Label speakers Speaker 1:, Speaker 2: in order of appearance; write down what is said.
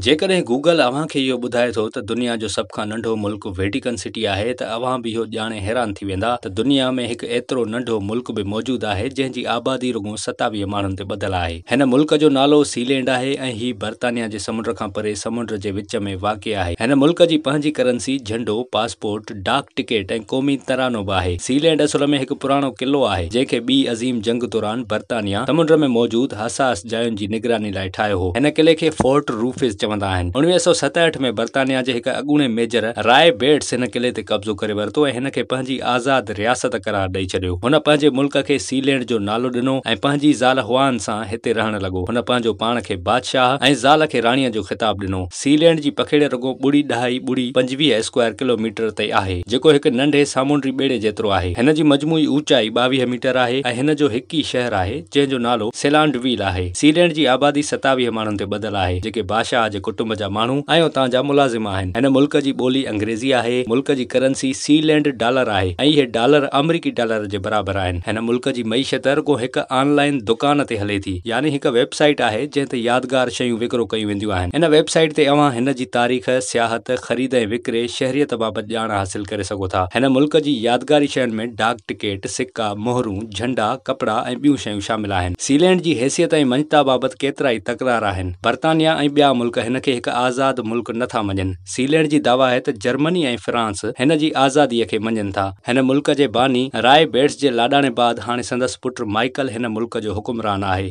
Speaker 1: جيڪڏهن گوگل اوهان کي اهو ٻڌائي ٿو ته دنيا جو سڀ کان ننڍو ملڪ ويٽيڪن سٽي آهي ته اوهان به اهو ڄاڻي حيران ٿي ويندا ته دنيا ۾ هڪ ايترو ننڍو ملڪ به موجود آهي جنهن جي آبادي رڳو ستاويهه ماڻهن تي ٻڌل آهي. هن ملڪ جو نالو سي لينڊ آهي ۽ هي برطانيا جي سمنڊ کان پري سمنڊ جي وچ ۾ واقع آهي. هن ملڪ جي پنهنجي ڪرنسي، جهنڊو، پاسپورٽ، ڊاڪ ٽڪيٽ ۽ قومي ترانو به آهي. سي لينڊ اصل ۾ هڪ پراڻو قلعو آهي، جنهن کي ٻي عظيم جنگ دوران برطانيا سمنڊ ۾ موجود حساس جاين جي نگراني لاء ٺاهيو هو. هن قلعي کي فورٽ روفز چوندا آهن. اوڻويهه سؤ ستهٺ ۾ برطانيا جي هڪ اڳوڻي ميجر راء بيٽس هن قلعي تي قبضو ڪري ورتو ۽ هن کي پنهنجي آزاد رياست قرار ڏئي ڇڏيو. هن پنهنجي ملڪ کي سي لينڊ جو نالو ڏنو ۽ پنهنجي زال هوان سان هتي رهڻ لڳو. هن پنهنجو پاڻ کي بادشاهه ۽ زال کي راڻيء جو خطاب ڏنو. سي لينڊ جي پکيڙي رڳو ٻڙي ڏهائي ٻڙي پنجويهه اسڪوائر ڪلو ميٽر تي آهي، جيڪو هڪ ننڍي سامونڊي ٻيڙي جيترو آهي. هن جي مجموعي اوچائي ٻاويهه ميٽر آهي ۽ هن جو هڪ ئي شهر آهي، جنهن جو نالو سيلانڊ ويل آهي. سي لينڊ جي آبادي ستاويهه ماڻهن تي ٻڌل آهي، جيڪي باشاهه جي ڪٽنب جا ماڻهو ۽ اتان جا ملازم آهن. هن ملڪ جي ٻولي انگريزي آهي. ملڪ جي ڪرنسي سي لينڊ ڊالر آهي ۽ اهي ڊالر آمريڪي ڊالر جي برابر آهن. هن ملڪ جي معيشت رڳو هڪ آن لائين دڪان تي هلي ٿي، يعني هڪ ويب سائيٽ آهي، جنهن تي يادگار شيون وڪرو ڪيون وينديون آهن. رهيون آهن. هن ويب سائيٽ تي اوهان هن جي تاريخ، سياحت، خريد ۽ وڪري، شهريت بابت ڄاڻ حاصل ڪري سگهو ٿا. هن ملڪ جي يادگاري شين ۾ ڊاڪ ٽڪيٽ، سڪا، مهرون، جهنڊا، ڪپڙا ۽ ٻيون شيون شامل آهن. سيلينڊ جي حيثيت ۽ مڃتا بابت ڪيترائي تڪرار آهن. برطانيا ۽ ٻيا ملڪ هن کي هڪ آزاد ملڪ نه ٿا مڃن. سيلينڊ جي دعويٰ آهي ته جرمني ۽ فرانس هن جي آزاديء کي مڃين ٿا. هن ملڪ جي باني رائي بيٽس جي لاڏاڻي بعد هاڻي سندس پٽ مائيڪل هن ملڪ جو حڪمران آهي.